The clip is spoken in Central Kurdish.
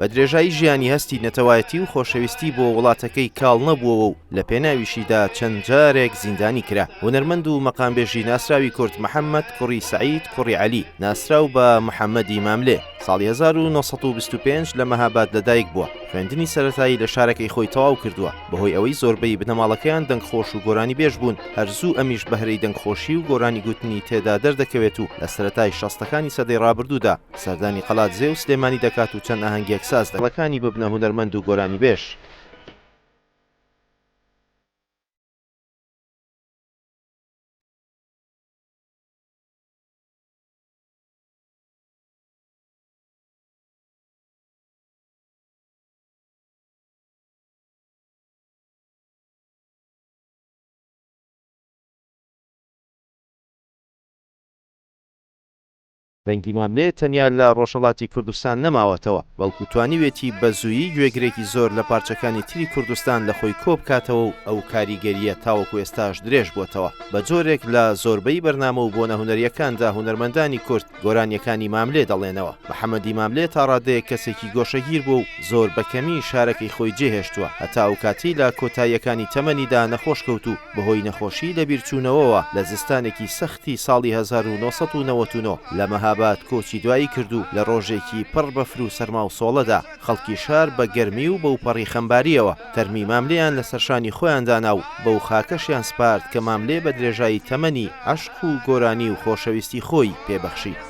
بە درێژایی ژیانی هەستی نەتەوایەتی و خۆشەویستی بۆ وڵاتەکەی کاڵ نەبووەوە و لە پێناویشیدا چەند جارێک زیندانی کرا هونەرمەند و مەقامبێژی ناسراوی کورد محەممەد کوڕی سەعید کوڕی عەلی ناسراو بە محەممەدی ماملێ ساڵی 1925 لە مەهاباد لەدایک بووە خوێندنی سەرەتایی لە شارەکەی خۆی تەواو کردووە بەهۆی ئەوەی زۆربەی بنەماڵەکەیان دەنگخۆش و گۆرانی بێژ بوون هەرزوو ئەمیش بەهرەی دەنگخۆشی و گۆرانی گوتنی تێدا دەردەکەوێت و لە سەرەتای شەستەکانی سەدەی ڕابردوودا سەردانی قەڵادزێ و سلێمانی دەکات و چەند ئاهەنگێک ساز دەکات. دڵەکانی ببنە هونەرمەند و گۆرانیبێژ. دەنگی ماملێ تەنیا لە ڕۆژهەڵاتی کوردستان نەماوەتەوە، بەڵکو توانیوێتی بە زوویی گوێگرێکی زۆر لە پارچەکانی تری کوردستان لە خۆی کۆبکاتەوە و ئەو کاریگەرییە تاوەکو ئێستاش درێژبووەتەوە، بە جۆرێک لە زۆربەی بەرنامە و بۆنە هونەرییەکاندا هونەرمەندانی کورد گۆرانییەکانی ماملێ دەڵێنەوە. محەمەدی ماملێ تا ڕادەیەک کەسێکی گۆشەگیر بووە و زۆر بە کەمی شارەکەی خۆی جێهێشتووە، هەتا ئەوکاتەی لە کۆتاییەکانی تەمەنیدا نەخۆش کەوت و بەهۆی نەخۆشی لەبیرچوونەوەوە لە زستانێکی سەخت ی ساڵی هەزار و نۆ سەد و نەوەد و نۆ لە مەهاباد کۆچی دوایی کرد و لە ڕۆژێکی پڕ بەفر و سەرما و سۆڵەدا خەڵکی شار بە گەرمی و بەوپەڕی خەمبارییەوە تەرمی ماملێیان لەسەر شانی خۆیان دانا و بەو خاکەشیان سپارد کە ماملێ بە درێژایی تەمەنی عەشق و گۆرانی و خۆشەویستی خۆی پێ بەخشی.